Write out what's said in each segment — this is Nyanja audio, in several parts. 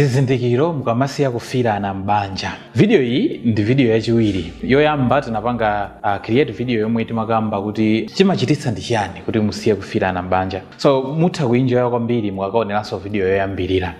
Zizindikiro mukamasiya kufiirana m'banja. Video iyi ndi video yachiwiri. Yoyamba tinapanga uh, create video yomwe timakamba kuti chimachititsa ndi chiyani kuti musiye kufiirana m'banja. So mutha kuinjoya kwambiri mukakaoneranso video yoyambirira.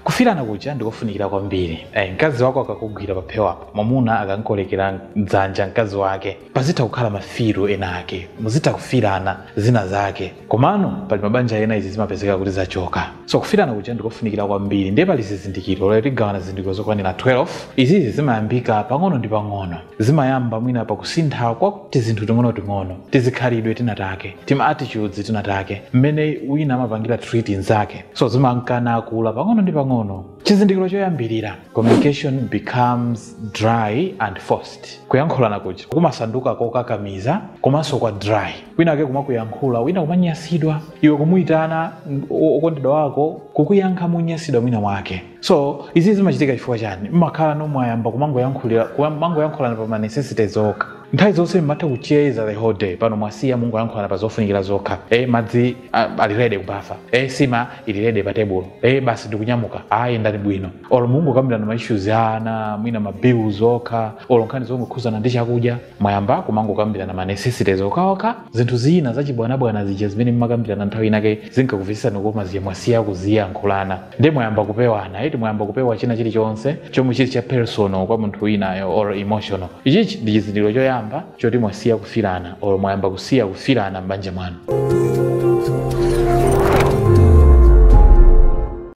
Kufiirana kuja ndikofunikira kwambiri. Eh, mkazi wako akakugwira paphewapo, mwamuna akankolekera dzanja mkazi wake, pazitha kukhala mafilo ena ake, muzitha kufiirana zina zake. Komano pali mabanja ena izi zimapezeka kuti zachoka. So kufirana kuja ndikofunikira kwambiri ndiye pali zizindikiro lero tigawana zizindikiro zokwanira 12. Izizi zimayambika pang'ono ndi pang'ono. Zimayamba mwina pakusintha kwa tizinthu ting'onoting'ono, tizikhalidwe tina take, tima attitudes tina take, mmene wina amapangira treat mnzake. So zimanka nakula pang'ono ndi pang'ono. Chizindikiro choyambirira, communication becomes dry and forced. Kuyankhulana kuja kumasanduka kokakamiza komanso kwa dry. wina wake kumakuyankhula wina kumanyasidwa iwe kumuyitana mm, o- okondedwa wako kukuyankha monyasidwa mwina mwake so izi zimachitika chifukwa chani mmakhalano mwayamba kumangoyankhulira kumangoyankhulana pa ma necessities okha nthawi zonse mmatha kucheza the whole day pano mwasiya mungoyankhulana pa zofunikira zokha e madzi a- ali rede kubafa e nsima ili rede pa tebulo e basi ndikunyamuka ayi yendani bwino olo mungokambirana ma issues ana mwina ma bills okha olo nkhani zongokhuzana ndi chakudya mwayamba kumangokambirana ma necessities okhaokha zinthu zina zachibwanabwana zija zimene mmakambirana nthawi inake zinkakumvetsetsani kukoma zija mwasiya kuziyankhulana ndiye mwayamba kupewana eti mwayamba kupewa china chilichonse chomwe chili cha personal kwa munthu winayo or emotional ichichi ndi chizindikiro choyamba choti mwasiya kufirana or mwayamba kusiya kufirana m'banja mwanu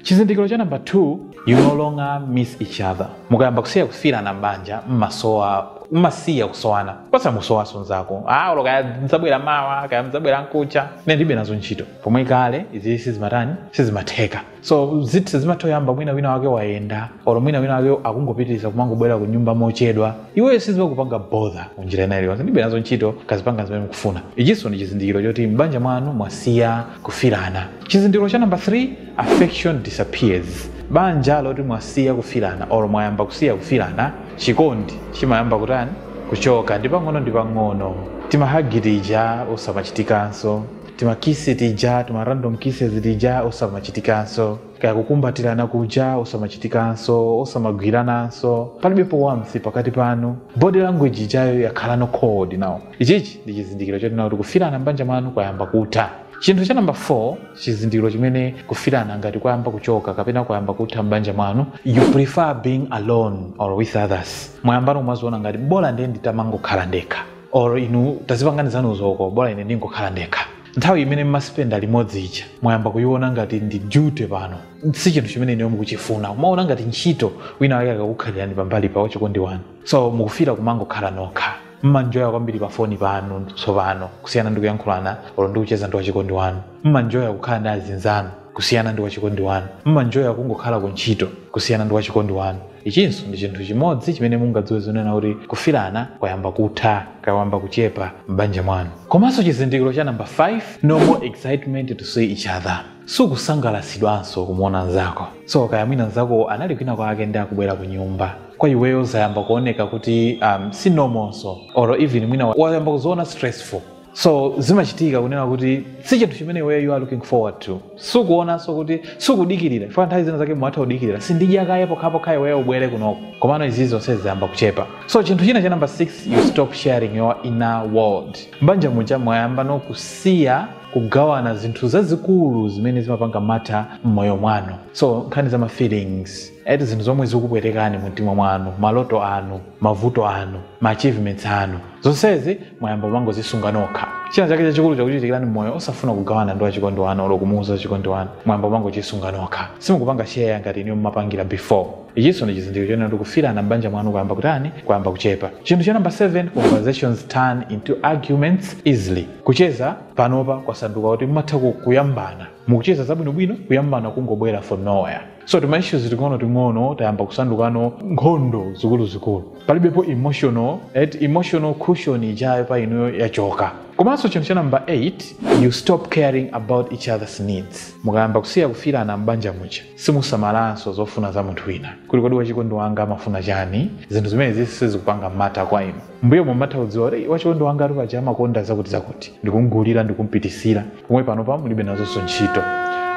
chizindikiro cha namba 2 you no longer miss each other mukayamba kusiya kufilana m'banja mmasowa mmasiya kusowana osamusowanso nzako ah olo kaya mzabwera mawa kaya mzabwera nkuja ine ndilibe nazo ntchito pomwe kale izi sizimatani sizimatheka so zithu sizimatoyamba mwina wina wake wayenda olo mwina wina wake akungopitiriza kumangobwera ku nyumba mochedwa iweyo sizimakupanga bother munjira ina iliyonse ndilibe nazo ntchito kazipanga zimene mukufuna ichinso ndi chizindikiro choti m'banja mwanu mwasiya kufilana chizindikiro cha namba 3 Affection disappears banja loti mwasiya kufilana or mwayamba kusiya kufilana chikondi chimayamba kutani kuchoka ndi pang'ono ndi pang'ono timahagi tija osamachitikanso timakisi tija tima random kisses tija osamachitikanso kaya kukumbatirana kuja osamachitikanso osamagwirananso palibepo warmth pakati panu body language ijayo yakhalano cold now ichichi ndi chizindikiro choti now kuti kufilana mbanja mwanu kwayamba kutha chinthu cha namba 4 chizindikiro chimene kufirana ngati kwayamba kuchoka kapena kwayamba kutha m'banja mwanu you prefer being alone or with others mwayambano kumaziona ngati bola ndiye nditamangokhala ndekha or inu tazipangani zanuzo koma bola ine ndingokhala ndekha nthawi imene mmaspenda limodzi ija mwayamba kuyiona ngati ndi duty pano si chinthu chimene inuyo mukuchifuna mumaona ngati ntchito wina wake akakukhalirani pambali pa wachikondi wanu so mukufuna kumangokhala nokha mmanjoya kwambiri pa foni panu tsopano kusiyana ndi kuyankhulana olo ndi kucheza ndi wachikondi wanu mmanjoya kukhala ndi azinzanu kusiyana ndi wachikondi wanu mmanjoya kungokhala ku ntchito kusiyana ndi wachikondi wanu ichinso ndi chinthu chimodzi chimene mungadziwe zonena kuti kufirana kwayamba kutha kwayamba kuchepa m'banja mwanu komanso chizindikiro cha namba 5 no more excitement to see each other sukusangalatsidwanso kumuona nzako so kaya mwina nzako anali kwina kwake ndi akubwera ku nyumba kwa iweyo zayamba kuoneka kuti um, si normal nso or even mwina wa- wayamba kuziona stressful so zimachitika kunena kuti si chinthu chimene iweyo you are looking forward to sukuonanso kuti sukudikirira chifukwa nthawi zina zake mumatha kudikirira sindidya kaye pokhapokha iweyo ubwere kunoko komano izi zonse zayamba kuchepa so chinthu china cha number 6 you stop sharing your inner world mbanja muja mwayambano kusiya kugawana zinthu zazikulu zimene zimapanga matter m'moyo mwanu so nkhani za ma feelings eti zinthu zomwe zikupwetekani mu mtima mwanu maloto anu mavuto anu ma achievements anu zonsezi mwayamba kumangozisunga nokha china chake chachikulu chakuchitikirani m'moyo osafuna kugawana ndi wachikondi wanu olo kumuuza wachikondi wanu mwayamba kumangochisunga nokha simukupanga share ngati inuyo mumapangira before ichinso ndi chizindikiro chonena kuti kufirana m'banja mwanu kwayamba kutani kwayamba kuchepa chinthu cha namba 7 conversations turn into arguments easily Kucheza panopa kwasanduka kuti mumatha ku- kuyambana mukucheza zabwinobwino kuyambana kungobwera from nowhere so tima issues ting'ono ting'ono tayamba kusandukano nkhondo zikuluzikulu palibepo emotional emotional cushion ijayo pa inuyo yachoka komanso chinthu cha number 8 you stop caring about each other's needs mukayamba kusiya kufirana m'banja muja simusamalanso zofuna za munthu wina kuti kodi wachikondi wanga amafuna chani zinthu zimene zisi sizikupanga matter kwa inu mbuyo mumatha kudziwa kuti wachikondi wanga ali paja amakonda zakuti zakuti ndikumgulira ndikumpititsira pomwe panopa mulibe nazonso ntchito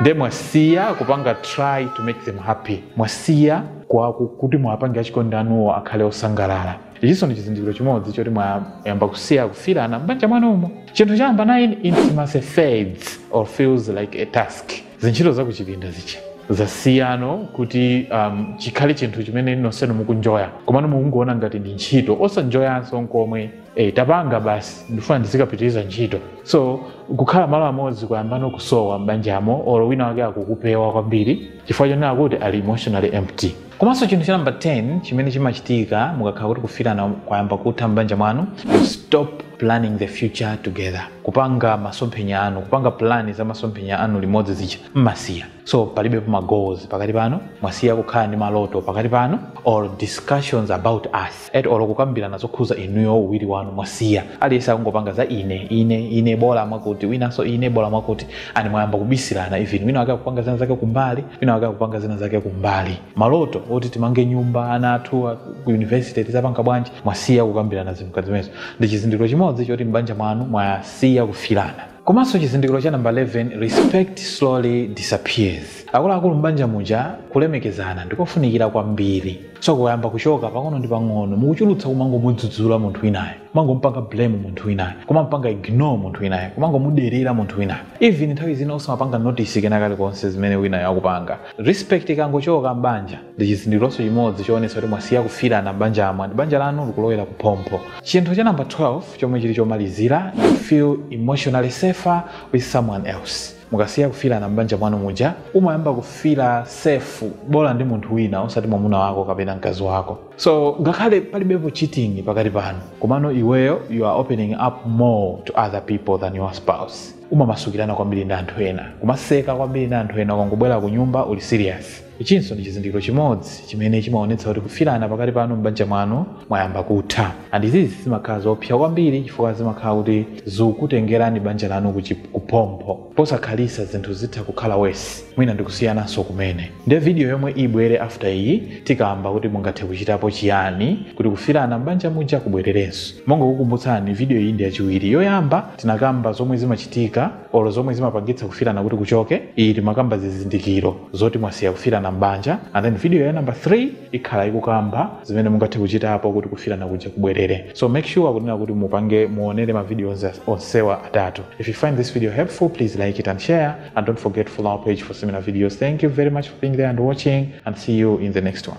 nde mwasiya kupanga try to make them happy mwasiya kwa ku- kuti mwapange achikondi anuwo akhale osangalala ichinso ndi chizindikiro chimodzi choti mwayamba kusiya kufirana m'banja mwanumo chinthu cha namba 9 intimacy fades or feels like a task zintchito za kuchipinda zija zasiyano kuti um, chikhale chinthu chimene nonsenu mukunjoya komano mukungoona ngati ndi ntchito osanjoyanso nkomwe e, tapanga basi ndifuna ndizikapitiriza ntchito so kukhala malo amodzi kwayambano kusowa m'banjamo or wina wake akukupewa kwambiri chifukwa chonena kuti ali emotionally empty komanso chinthu cha namba 10 chimene chimachitika mukakhala kuti kufilana kwayamba kutha m'banja mwanu you stop planning the future together kupanga masomphenya anu kupanga plani za masomphenya anu limodzi zija mmasiya so palibe ma goals pakati panu mwasiya kukhala ndi maloto pakati panu or discussions about us olo kukambirana zokhuza inuyo uwiri wanu mwasiya aliyese akungopanga za ine ine ine bola mwakuti winanso ine bola mwakuti and mwayamba kubisirana even wina wake akupanga zina zake kumbali wina wake akupanga zina zake kumbali maloto oti timange nyumba ana athu a- ku university tizapanga bwanji mwasiya kukambirana zinthu zimenezo ndi chizindikiro chimodzi choti m'banja mwanu mwasiya kufilana Komanso chizindikiro cha namba 11, Respect slowly disappears. Akuluakulu m'banja muja, kulemekezana ndikofunikira kwambiri. So kukayamba kuchoka pang'ono ndi pang'ono, mukuchulutsa kumangomudzudzula munthu winayo, kumangompanga blame munthu winayo, kumamupanga ignore munthu winayo, kumangomuderera munthu winayo. Even nthawi zina osamapanga notice kena kalikonse zimene winayo akupanga. Respect ikangochoka m'banja, ndi chizindikironso chimodzi choonetsa kuti mwasiya kufilana m'banjamo and banja lanu likulowera kuphompho. Chinthu cha namba 12. chomwe chili chomalizira you feel emotionally safer with someone else mukasiya kufilana m'banja mwanu muja umayamba kufila safe bola ndi munthu wina osati mwamuna wako kapena mkazi wako so ngakhale palibepo cheating pakati panu komano iweyo you are opening up more to other people than your spouse umamasukirana kwambiri ndi anthu ena kumaseka kwambiri ndi anthu ena ukangobwera ku nyumba uli serious Ichinso ndi chizindikiro chimodzi chimene chimaonetsa kuti kufilana pakati panu m'banja mwanu kwayamba kutha. And izi zimakhala zoopsya kwambiri chifukwa zimakhala kuti zikutengerani banja lanu kuphompho. Posakhalisa zinthu zitha kukhala worse mwina ndikusiyananso kumene. Nde video yomwe ibwere after iyi tikamba kuti mungathe kuchitapo chiyani kuti kufilana m'banja muja kubwererenso. Mongokukumbutsani video iyi ndi yachiwiri. Yoyamba tinakamba zomwe zimachitika. olo zomwe zimapangitsa kufilana kuti kuchoke iyi timakamba zizindikiro zoti mwasiya kufilana m'banja and then video ya number 3 ikhala ikukamba zimene mungathe kuchitapo kuti kufilana kuja kubwerere so make sure kunena kuti mupange muonere mavidiyo onse- onsewa atatu if you find this video helpful please like it and share and don't forget to follow our page for similar videos thank you very much for being there and watching and see you in the next one